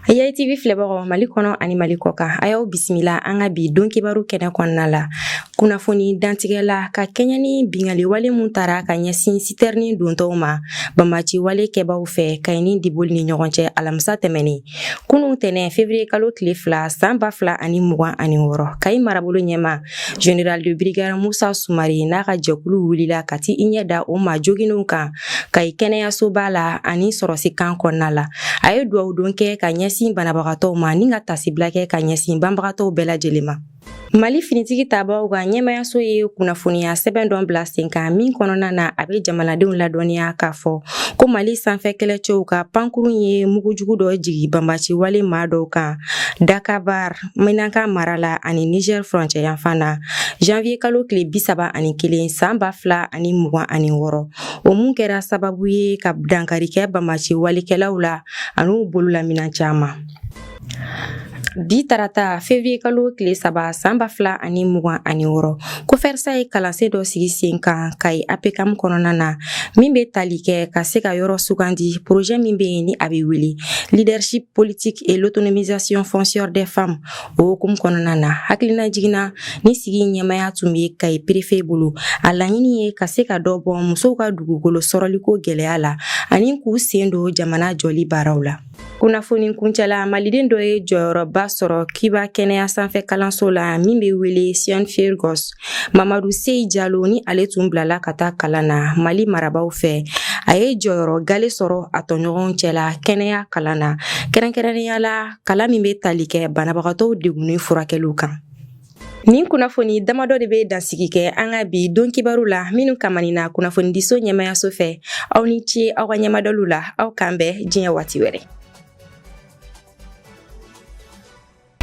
Kayi TV filɛbagaw Mali kɔnɔ ani Mali kɔkan a y'aw bisimila an ka bi don kibaru kɛnɛ kɔnɔna la kunnafoni dantigɛ la ka kɛɲɛ ni bingali wale min tara ka ɲɛsin sitɛrini dontɔw ma banbaci wale kɛbaw fɛ kayi ni diboli ni ɲɔgɔn cɛ alamisa tɛmɛnen kunu tɛnɛ fevrier kalo tile fila san ba fila ani mugan ani wɔɔrɔ kayi marabolo ɲɛmaa General de brigade Musa Sumare n'a ka jɛkulu wulila ka t'i ɲɛ da o maa joginnenw kan Kayi kɛnɛyasoba la ani sɔrɔsi kan kɔnɔna la. A ye duwawu don kɛ ka ɲɛsin banabagatɔw ma ni ka tasibila kɛ ka ɲɛsin banbagatɔw bɛɛ lajɛlen ma. Mali finitigi tabaaw ka ɲɛmayaso ye kunnafoniya sɛbɛn dɔ bila sen kan min kɔnɔna na a bɛ jamanadenw ladɔnniya k'a fɔ ko Mali sanfɛ kɛlɛcɛw ka pankurun ye mugujugu dɔ jigi banbaci wale maa dɔw kan Dakabar. Menaka mara la ani Niger furancɛ yanfan na janvier kalo tile bi saba ani kelen san ba fila ani mugan ani wɔɔrɔ o mun kɛra sababu ye ka dankari kɛ banbaci walekɛlaw la ani u bololaminɛn caman bi tarata fevrier kalo tile saba san ba fila ani mugan ani wɔɔrɔ kofɛrisa ye kalansen dɔ sigi sen kan Kayi apekam kɔnɔna na min be tali kɛ ka se ka yɔrɔ sugandi porozɛ min be yen ni a be wele leadership politique et l'autonomisation foncière des femmes o hukumu kɔnɔna na hakilina jiginna ni sigi ɲɛmaya tun bɛ kayi perefe bolo a laɲini ye ka se ka dɔ bɔ musow ka dugukolo sɔrɔliko gɛlɛya la ani k'u sen don jamana jɔli baaraw la kunnafoni kuncɛla maliden dɔ ye jɔyɔrɔba sɔrɔ Cuba kɛnɛya sanfɛ kalanso la min bɛ wele Cienfuegos mamadu seyi jalo ni ale tun bilala ka taa kalan na mali marabaw fɛ a ye jɔyɔrɔ galɛ sɔrɔ a tɔɲɔgɔnw cɛla kɛnɛya kalan na kɛrɛnkɛrɛnnenya la kalan min bɛ tali kɛ banabagatɔw degunnen furakɛliw kan Nin kunnafoni damadɔ de bɛ dansigi kɛ an ka bi don kibaru la minnu kamanina kunnafonidiso ɲɛmayaso fɛ aw ni ce aw ka ɲɛmadaliw la aw k'an bɛn diɲɛ waati wɛrɛ